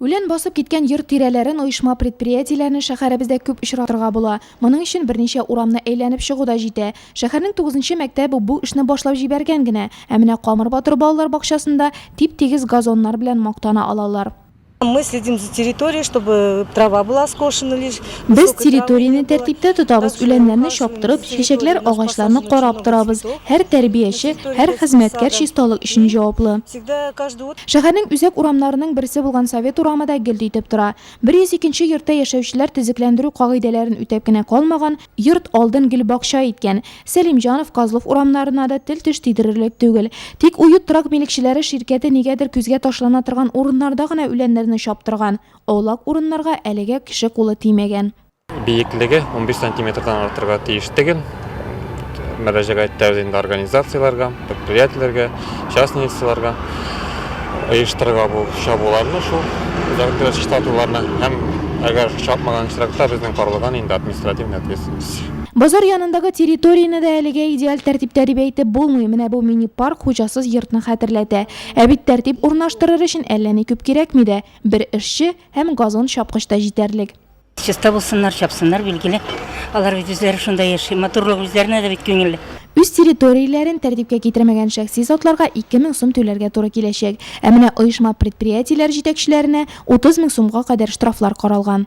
Үлән басып киткән йорт тирәләрен, оешма-предприятиеләрне шәһәребездә күп очратырга була. Моның өчен берничә урамны әйләнеп чыгу да җитә. Шәһәрнең тугызынчы мәктәбе бу эшне башлап җибәргән генә. Ә менә Камыр батыр балалар бакчасында тип-тигез газоннар белән мактана алалар. Мы следим за территорией, чтобы трава была скошена лишь, высокой травы не было. Без территорияне тәртиптә тотабыз, үләннәрне чаптырып, чәчәкләр, агачларны карап торабыз. Һәр тәрбияче, һәр хезмәткәр чисталык өчен җаваплы. Шәһәрнең үзәк урамнарының берсе булган Совет урамы да гел итеп тора. 102 нче йортта яшәүчеләр төзекләндерү кагыйдәләрен үтәп кенә калмаган, йорт алдын гел бакча иткән. Сәлимҗанов, Козлов урамнарына да тел-теш тидерерлек түгел. Тик Уют торак милекчеләре ширкәте нигәдер күзгә ташлана торган урыннарда гына үләннәрне чаптырган. Аулак урыннарга әлегә кеше кулы тимәгән. Биеклеге 15 сантиметрдан артырга тиеш түгел. Мөрәҗәгать итәбез инде организацияләргә, предприятиеләргә, частный лицаларга. Оештырырга бу чабуларны шул дәртләр чистартуларны һәм әгәр чапмаган очракта безнең карлыган инде административная ответственность. Базар янындагы территорияне дә әлегә идеаль тәртиптә дип әйтеп булмый. Менә бу мини-парк хуҗасыз йортны хәтерләтә. Ә бит тәртип урнаштырыр өчен әллә ни күп кирәкми дә. Бер эшче һәм газон чапкыч та җитәрлек. Чиста булсыннар, чапсыннар, билгеле. Алар бит үзләре шунда яши. Матурлык үзләренә дә бит күңелле. Үз территорияләрен тәртипкә китермәгән шәхси затларга 2 мең сум түләргә туры киләчәк. Ә менә оешма-предприятиеләр җитәкчеләренә 30 мең сумга кадәр штрафлар каралган.